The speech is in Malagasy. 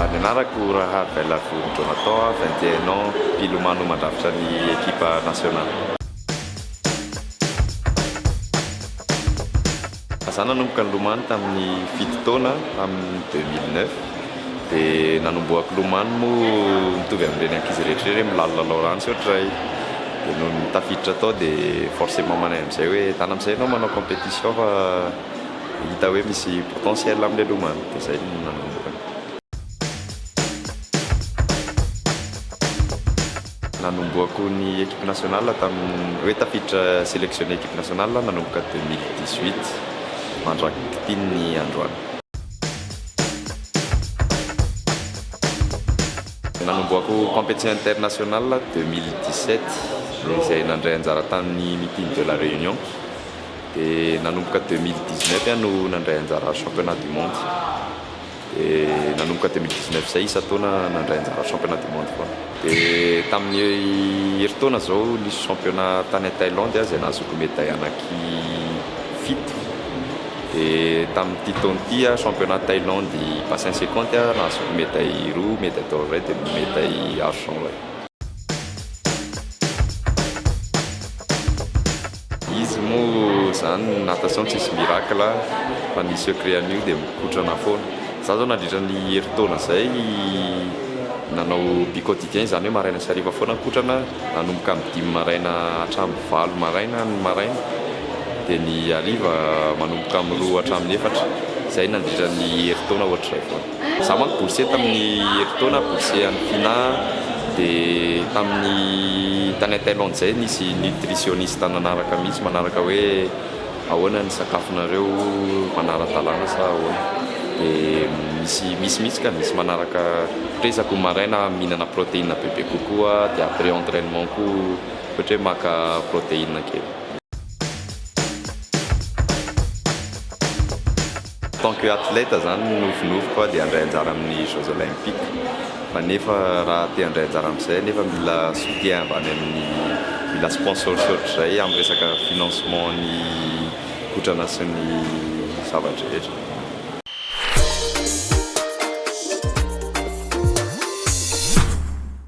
Ary ny anarako Rahad Belhadjouri Jonathan, vingt et un ans, mpilomano mandrafitra ny ekipa nasionaly. Izaho nanomboka nilomano tamin'ny fito taona, tamin'ny deux mille neuf, dia nanombohako nilomano moa mitovy amin'ireny ankizy rehetra ireny, milalao lalao rano tsy ohatray. Dia nony tafiditra tao dia forcement manay amin'izay hoe tana amin'izay ianao manao compétition fa. hita hoe misy potentiel amin'ilay lomano dia izay no nanomboka. Nanomboako ny equipe nationale tamin'ny hoe tafiditra selectionner equipe nationale aho nanomboka deux mille dix huit mandrakitin'ny androany. Nanomboako competition internationale deux mille dix sept izay nandray anjara tamin'ny meeting de la réunion. Dia nanomboka deux mille dix neuf aho no nandray anjara championnat du monde. Dia nanomboka deux mille dix neuf izay isan-taona nandray anjara championnat du monde foana. Dia tamin'ny herintaona izao nisy championnat tany Thaïlande aho izay nahazoako médaille anaky fito. Dia tamin'ity taona ity aho championnat Thaïlande bassin cinquante aho nahazoako médaille roa, médaille d'or iray dia médaille argent iray. Izy moa zany ny natation tsisy miracle a, fa ny secret an'io dia mikotrana foana. Za zao nandritra ny herintaona zay nanao bi quotidien izany hoe maraina sy hariva foana mikotrana nanomboka amin'ny dimy maraina hatramin'ny valo maraina ny maraina dia ny hariva manomboka amin'ny roa hatramin'ny efatra, zay nandritra ny herintaona ohatr'izay foana. Za manko boursier tamin'ny herintaona, boursier an'ny Fina, dia tamin'ny tany an Thaïlande zay nisy nutritionniste nanaraka mihitsy manaraka hoe ahoana ny sakafonareo manara-dalàna sa ahoana dia misy misy mihitsy ka misy manaraka ohatra hoe isaky ny maraina mihinana protéine bebe kokoa dia après entrainement koa ohatra hoe maka protéine kely. Tant que athlète zany ny nofinofiko a dia handray anjara amin'ny jeux olympiques fa nefa raha te handray anjara amin'izay anefa mila soutien avy any amin'ny mila sponsors ohatr'izay amin'ny resaka financement ny kotrana sy ny zava-drehetra.